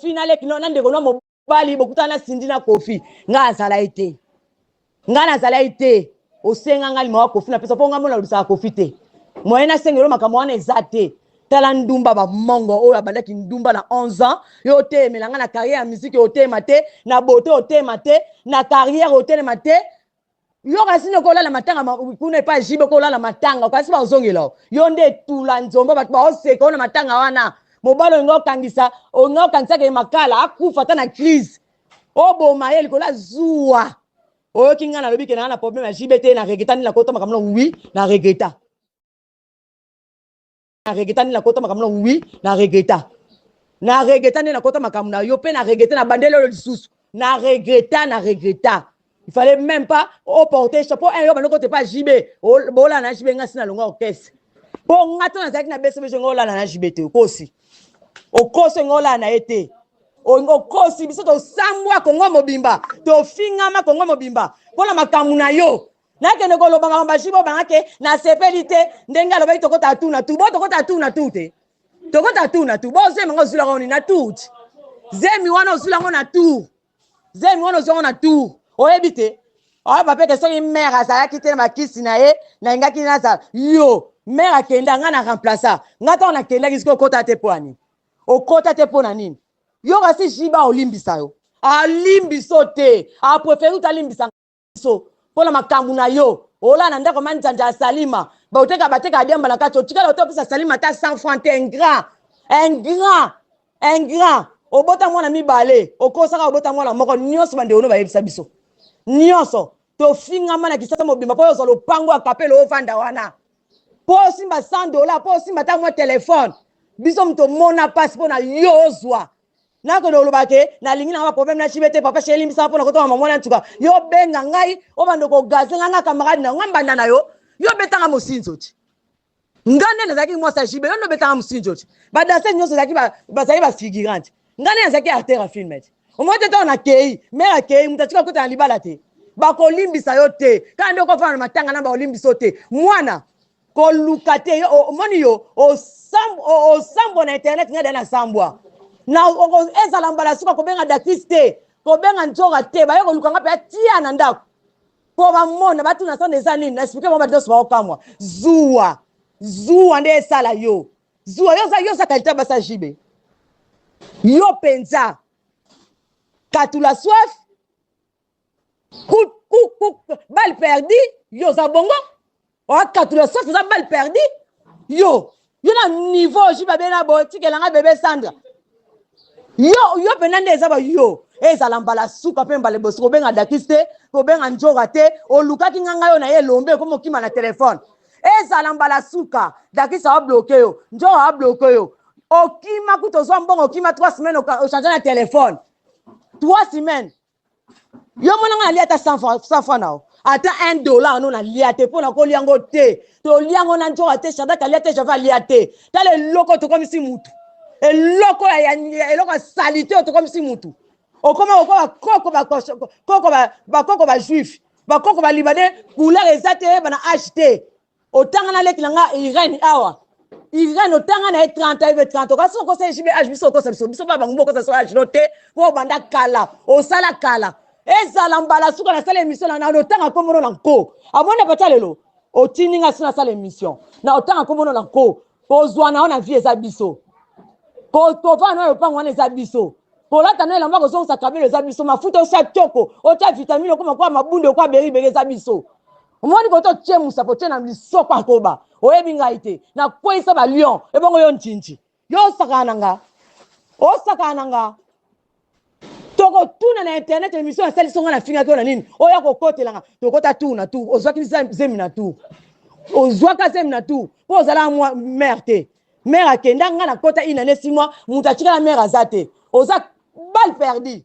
kofi na leki na ndeko na mobali bokutana na sindi na kofi ngai azala ye te ngai nazala ye te osenga ngai limawa kofi napesa mpo ngai mona olobisaka kofi te moye nasengelo makambo wana eza te tala ndumba bamongo oyo abandaki ndumba na 11 ans yo oteyemela ngai na carrière ya miziki oteyema te na bote oteyema te na carrière otelema te yo kasi nde okolala matanga kuna epai jibe okolala matanga kasi baozongela o yo nde etula nzombo bato baoseka ona matanga wana mobali olinga okangisa olinga okangisaka ye makala akufa ata na crise oboma ye likolo azuwa oyoki ngai nalobi ke naa na problème ya jibe te na regreta nde nakota makambo na wi na regreta na regreta nde nakota makambo na wi na regreta na regreta nde nakota makambo na yo mpe na regreta na bandeli oyo lisusu na regreta na regreta il fallait même pas oporte chapeau un yo bando kote pa jb bolala na jb nga si na longa okese mpo nga to nazalaki na bcbg nga olala na jb te okosi okosi nga olala na ye te okosi biso tosambwa kongo mobimba tofingama kongo mobimba mpo na makambo na yo nakende koloba makambo baji bobanga ke nasepeli te ndenge alobaki tokota tu na tu bo tokota tu na tu te tokota tu na tu bo zemi yango ozulaka oni na tut zemi wana ozula yango na tour zemi wana ozwa yango na tour oyebi te oyo papeke soki mare azalaki te na bakisi na ye nalingaki nazala yo mare akenda ngai na remplaça ngai ntango nakendaki soki okota te mpo ya nini okota te mpo na nini yo kasi jiba olimbisa yo alimbiso te apreferi utalimbisa biso mpo na makambo na yo olala na ndako manzanza ya salima baoteka bateka adiamba na kati otikala oto opesa salima ata 100 franc te ingrat ingrat ingrat obota mwana mibale okosaka obota mwana moko nyonso bandeko no bayebisa biso nyonso tofingama na kisasa mobimba mpo ozwa lopango ya kapele ovanda wana mpo osimba 100 dola mpo osimba ata mwa telefone biso moto omona mpasi mpo na yo ozwa nakoki koloba ke nalingi nanga baproblème na cibe te papa sheri limbisa nga mpo na kotongama mwana ntuka yo benga ngai obanda kogaze ngai nga camarade na yo nga mbanda na yo yo betanga mosinzo ti nga nde nazalaki mwasi ya jibe yo nde obetanga mosinzo ti badanse nyonso bazalaki bafigurante nga nde nazalaki artere ya filme ti omoi te ntango nakei mere akei moto atika kota na libala te bakolimbisa yo te kaka nde okofana na matanga na bakolimbisa yo te mwana koluka te yo omoni yo osambwa na internet ngai da nasambwa na ezala mbala suka kobenga dakis te kobenga nzoka te baye koluka ngai mpe atia na ndako mpo bamona batuna sanda eza nini na esplike bango bato nyonso baokamwa zuwa zuwa nde esala yo zuwa yo oza kalita basa jibe yo mpenza katula soif Coup, coup, coup, balle perdue, yo oza bongo okatula soki oza balle perdue yo yo na niveau ji babe na boye tikela ngai bebe sandra yo yo mpenza nde eza ba yo ezala mbala suka mpe mbala ebosi kobenga dakis te kobenga njoga te olukaki nga ngai oyo na ye elombe ekomi okima na telefone ezala mbala suka dakis aobloke yo njoga aobloke yo okima kutu ozwa mbongo okima 3 semaine ochange na telefone 3 semaine yo mwana ngai nalia ata 100 franc na yo ata 1 dollar no nalia te mpo nakolia yango te tolia yango na nzoka te shadrake alia te java alia te tala eloko tokomisi mutu eloko ya eloko ya salite oyo tokomisi mutu okoma kokoba koko bakoko bajuif bakoko balibanais couleur eza te yeba na age te otanga na leki na nga irene awa irene otanga na ye 30 ayibe 30 okasi okosa ye jibe age biso okosa biso biso baba ngumba okosa so age no te po obanda kala osala kala ezala mbala suka nasala emission na nano otanga nkombono na nko amoni apata lelo otindi nga si nasala emission na otanga nkombono na nko kozwa na yo na vie eza biso kovaa na yo lopango wana eza biso kolata na elamba kozongisa kabelo eza biso mafuta osa toko otya vitamine okoma kwa mabunde okwa beriberi eza biso omoni koto otie musapo otie na lisoko ya koba oyebi ngai te nakweisa ba lion ebongo yo ntinti yo osakana na nga osakana na nga tokotuna na internet émission asalisi nga nafingaki yo na nini oya kokotela nga tokota tour na tour ozwaki zemi na tour ozwaka zemi na tour mpo ozalaka mwa mare te mare akenda nga nakota inane simwa moto atikala mare aza te oza bal perdi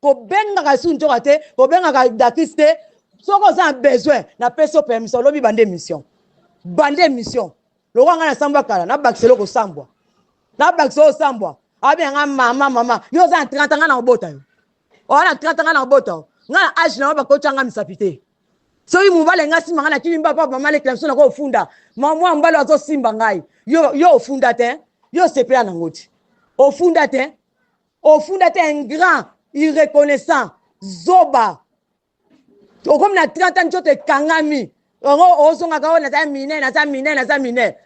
kobengaka lisusu ntoka te kobengaka dakis te soki oza na besoin napesi yo permission lobi bande mission bande mission lokola ngai nasambwa kala nabakisa eloko osambwa nabakisa osambwa abenga ngai mama mama yo oza na 30 ngai na kobota yo oza na 30 ngai na kobota yo ngai na age na yo bakotya ngai misapi te soki mobali ngai asimba ngai na kimi mba papa mama alekela biso nako ofunda mwa mobali azosimba ngai yo ofunda te yo osepela nango te ofunda te ofunda te ingrat irreconnaissant zoba okomi na 30 ans nzoto ekangami yango ozongaka oyo naza mine naza mine naza mine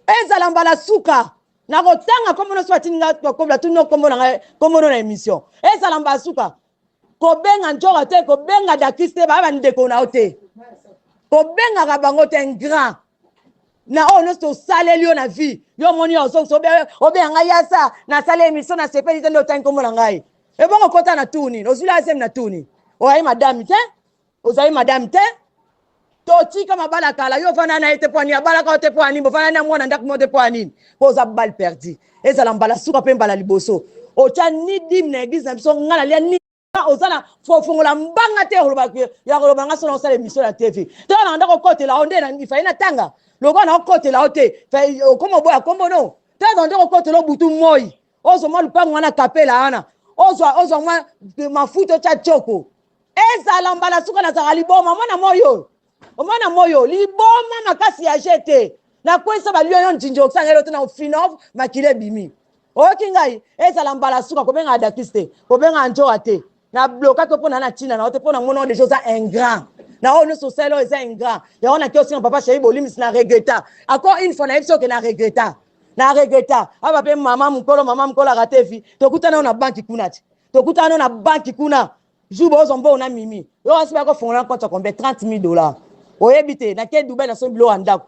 ezala mbala suka nakotanga nkombo nyonso batindi nga kokobola tuni nkombo na ngai nkombo no na émission ezala mbala suka kobenga ntshora te kobenga dakis te baya bandeko na yo te kobengaka bango te ingrat na oyo nyonso osaleli yo na vie yo omoni yo ozongisa obenga ngai yasa nasali emission na sepeli te nde otangi nkombo na ngai ebongo kota na tour nini ozwili azemi na tour nini oyaye madame te ozali madame te totika mabala kala yo ofanda na ye te pwani abalaka yo te pwani bofanda na mwana ndako mo te pwani mpo oza bal perdi ezala mbala suka mpe mbala liboso otya ni dime na eglise na biso ngai nalia ni oza na fofongola mbanga te oloba ya koloba nga sona osala emission na tv to na ndako okotela o nde ifai natanga lokola na okotela o te okoma oboya kombo no to na ndako okotela obutu moi ozwa mwa lupango wana kapela wana ozwa ozwa mwa mafuta otya choko ezala mbala suka nazalaka liboma omona moi oyo omona moi oyo liboma makasi ya je te nakwesa balio yo njinji okosanga elo te na ofinov makila ebimi oyoki ngai ezala mbala suka kobengaka dakis te kobengaka njowa te na bloka to pona na tina na ote pona mona deja oza ingrat na oyo nyonso osali oyo eza ingrat yango na kiosinga papa sheri bolimisi na regreta encore une fois nayebi soki na regreta na regreta aba mpe mama mokolo mama mokolo arate vi tokutana yo na banki kuna ti tokutana yo na banki kuna jour bozwa mbongo na mimi yo asi bakofongola compte ya combien 30 000 dollars oyebi te nake dubai na somi biloko ya ndako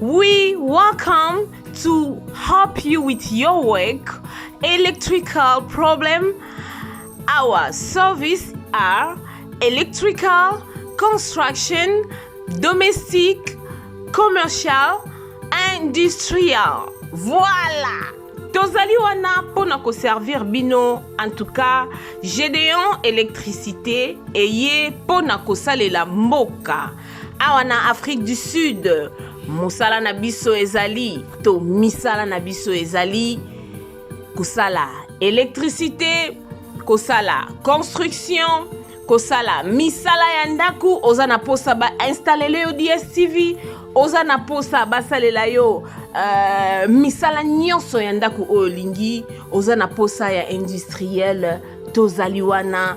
We welcome to help you with your work, electrical problem. Our service are electrical, construction, domestic, commercial, industrial. Voilà! tozali wana mpo na koservir bino en tout cas gedeon électricité eye mpo na kosalela mboka awa na afrique du sud mosala na biso ezali to misala na biso ezali kosala électricité kosala construction kosala misala ya ndako oza na mposa bainstallele yo dstv oza na mposa basalela yo uh, misala nyonso ya ndako oyo olingi oza na mposa ya industriel tozali wana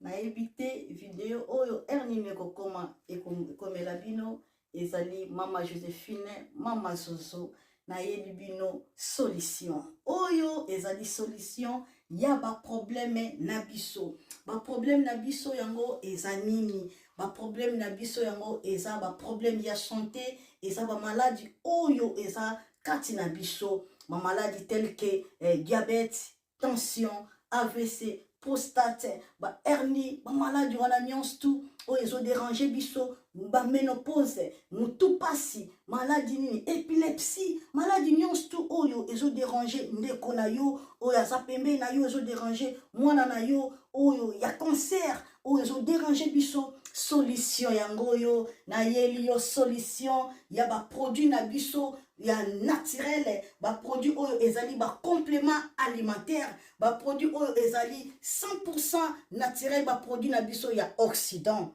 nayebi te video oyo heure nini ekokoma ekomela bino ezali mama josephine mama zozo nayebi bino solution oyo ezali solution ya baprobleme na biso baprobleme na biso yango eza nini baprobleme na biso yango eza baprobleme ya sante eza bamaladi oyo eza kati na biso bamaladi telke eh, diabete tension avc prostate bahernie bamaladi wana nyonso tu oyo ezoderange biso baménopause motu mpasi maladi nini epilepsie maladi nyonso tu oyo ezoderange ndeko na yo oyo aza pembeni na yo ezoderange mwana na yo oyo ya cancer oyo ezoderange biso solution yango oyo nayeli yo solution ya baproduit na biso ya naturel baproduit oyo ezali bacomplement alimentaire baproduit oyo ezali 100 naturel baproduit na biso ya occident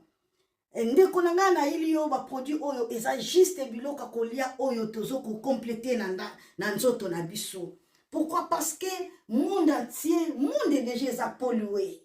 eh, ndeko na ngai nayeli yo baproduit oyo eza juste biloko ya kolia oyo tozo kocomplete na, na, na nzoto na biso pourquoi parce que monde entier monde deja eza polue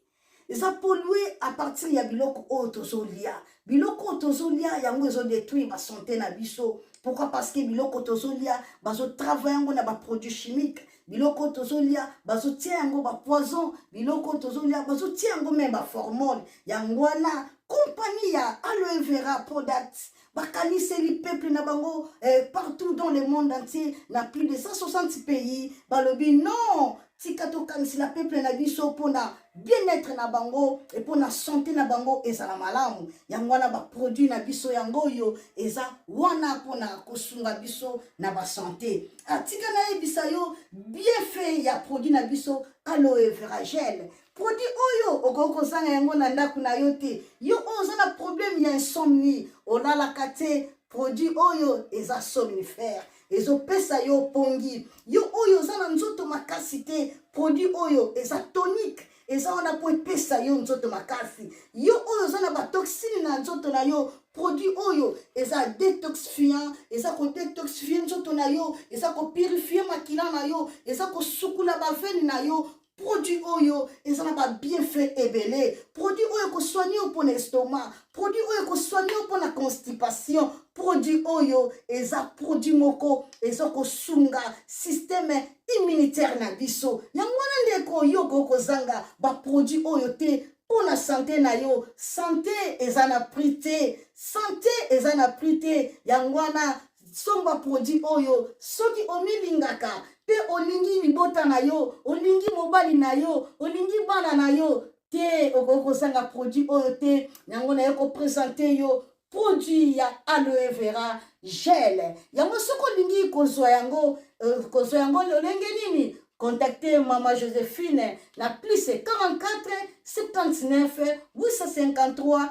eza polue à partir ya biloko oyo tozolia biloko oyo tozolia yango ezodetruire basante na biso pourquoi parce que biloko tozolia bazotravaille yango na baproduit chimique biloko tozolia bazotia yango bapoison biloko tozolia bazotia yango meme baformone yango wana kompani ya aloe vera product bakaniseli peuple na bango eh, partout dans le monde entier na plus de 160 pays balobi non tika tokanisela peuple na biso mpona bien-être na bango e mpona sante na bango ezala malamu yango wana baproduit na biso yango oyo eza wana mpona kosunga biso na basante atika ah, nayebisa yo bienfait ya produit na biso aloe veragele produit oyo okoki kozanga yango na ndako na yo te yo oyo oza na problème ya insomnie olalaka te produit oyo eza somnifère ezopesa yo pongi yo oyo oza na nzoto makasi te produit oyo eza tonique eza wana mpo epesa yo nzoto makasi yo oyo oza na batoxine na nzoto na yo produit oyo eza detoxifiant eza kodetoxifie nzoto na yo eza kopurifie makila na yo eza kosukula bavene na yo produit oyo eza na babienfait ebele produit oyo ekosoigne yo mpo na estomac produit oyo ekosoigne yo mpo na constipation produit oyo eza produit moko eza kosunga systeme immunitaire na biso yango wana ndeko yo okoki kozanga baproduit oyo te mpo na sante na yo sante eza na prix te sante eza na prix te yango wana Somba produit oyo soki omilingaka mpe olingi libota na yo, olingi mobali na yo, olingi bana na yo te, okoki kozanga produit oyo te. Yango naye kopresente yo produit ya aloe vera gel. Yango soki olingi kozwa yango, euh, kozwa yango lolenge nini? Contactez Mama Josephine na plus 44 79 853